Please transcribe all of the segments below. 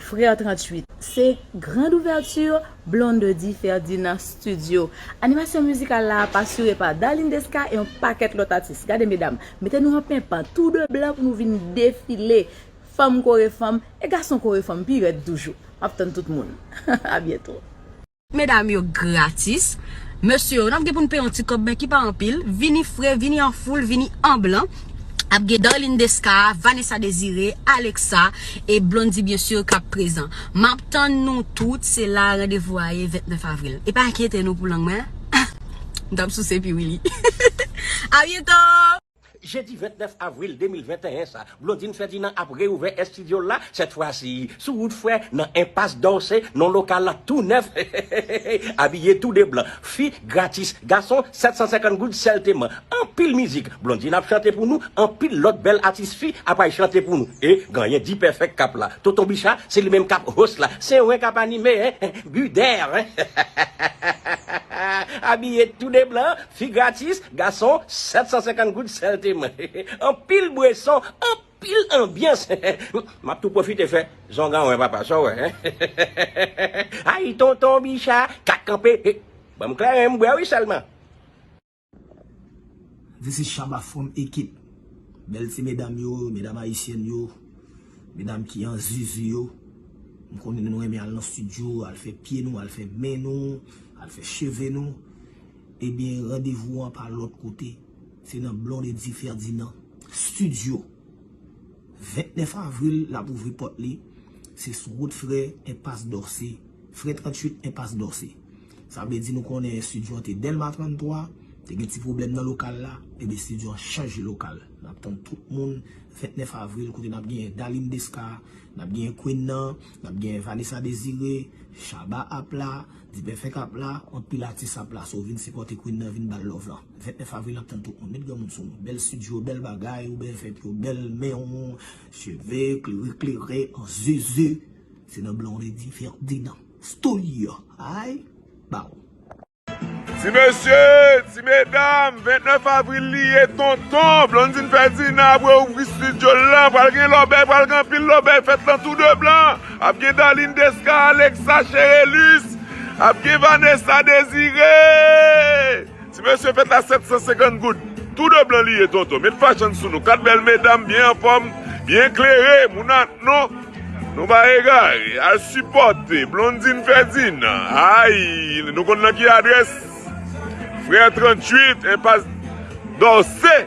Frère 38. Se grande ouverture Blondedy Ferdinand Studio. Animasyon mizikal la ap asire pa Darline Desca e yon pakèt lòt atis. Gade medam, mete nou an penpan, tou de blan pou nou vin defile. Fanm kore fanm, e gason kore fanm pi rèd toujou. M ap tann tout moun. A byento. Medam yo gratis. Mesye yo, n ap gen pou n peye yon ti kòb men ki pa anpil. Vini fre, vini an foul, vini an blan. Ap gen Darline Desca, Vanessa Desiré, Alexa e Blondy byen sur k ap prezan. M ap tann nou tout, se la randevou a ye 29 avril. E pa enkyete nou pou lang mwen an. M t ap souse pi wi li. Abyento! Jedi 29 avril 2021 sa, Blondine Ferdinand ap reouvè estidyo l la, sèt fwa si, sou wout frè, nan Enpas Dòse, non lokal la tou nèf heheheheh, abiye tou de blan, fi, gratis, gason, 750 goud sèlteman, anpil mizik, Blondine ap chante pou nou, anpil lòt bèl atis fi apral chante pou nou, e ganyen D-Perfect kap la, Tonton Bicha, se li menm kap host la, se wen kap anime eh, Buder eh, heheheheh, abiye tou de blan, Fi gratis, gason 750 goud sèlteman. Anpil bweson, anpil anbyans. M ap tou pwofite fè zongan wè papa, sa w wè? Ay tonton Bicha, kat kanpe. Ban m klèren m bwè wi sèlman. This is Shabba from Ekip. Bèl ti medam yo, medam ayisyèn yo, medam ki an zuzu yo. M konnen nou renmen al nan stidyo, al fè pye nou, al fè men nou, al fè cheve nou. Ebyen randevou an pa lòt kote se nan Blondedy Ferdinand studio 29 avril lap ouvri pòt li se sou wout frè enpas Dorcé frè 38 enpas Dorcé sa vle di nou konnen studio an te Delma 33 te gen ti pwoblèm nan lokal la ebyen studio an chanje lokal nap tann tout moun 29 avril kote nap genyen Darline Desca nap genyen Queen nan nap genyen Vanessa Désiré Shabba ap la. Dipè fèk ap la kont pil atis ap la so vin sipòte Queen nan vin bal love lan 29 avril nap tann tout moun met granmoun sou nou bèl studio bèl bagay ou bèl fèt yo bèl menw cheve klere klere an zuzu se nan Blondedy Ferdinand studio ay baw. Ti mesye, ti medam, 29 avril li ye tonton, Blondine Ferdinand ap re ouvri studio l lan, pral gen lòbèy, pral gen anpil lòbèy, fèt lan tou de blan. Ap gen Darline Desca, Alexa Cherelus, ap gen Vanessa Desire. Ti mesye fèt la 750 goud. Tou de blan li ye tonton. Met fashion sou nou. 4 bèl medam byen anfòm, byen klere. Moun ak nou, nou pa egare. Al sipòte Blondine Ferdinand. Ay, nou konn nan ki adrès? Frère 38, enpas Dorcé.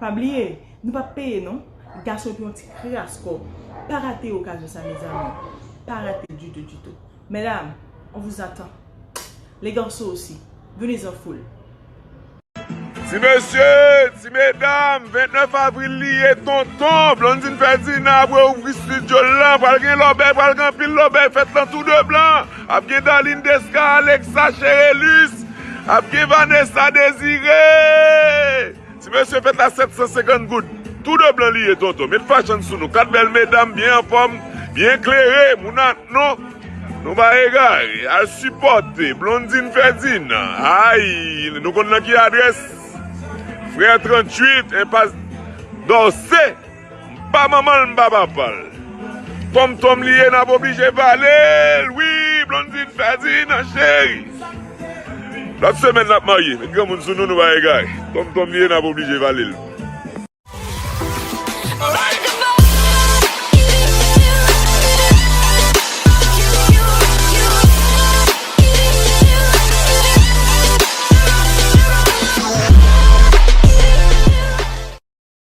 Pa bliye Nou pap peye non. Gason ki yon ti kras kò pa rate okazyon sa mezanmi pa rate ditou ditou medam on vous attend les garçons aussi venez en foule. Ti mesye, ti medam, 29 avril li ye tonton Blondine Ferdinand ap reouvri studio l lan, pral gen lòbèy, pral gen anpil lòbèy, fèt lan tou de blan. Ap gen Darline Desca, Alexa Cherelus, ap gen Vanessa Desire. Ti mesye fèt la 750 goud. Tou de blan li ye tonton. Met fashion sou nou. 4 bèl medam byen anfòm, byen klere. Moun ak nou, nou pa egare. Al sipòte Blondine Ferdinand. Ay, nou konn nan ki adrès? Frère 38, enpas Dorcé. Mpa manmanl mpa papal. Kòm tonm li ye nap oblije valel wi Blondine Ferdinand cheri Lòt semèn lap marye met granmoun sou nou nou pa egare Kòm tonm li ye nap oblije valel.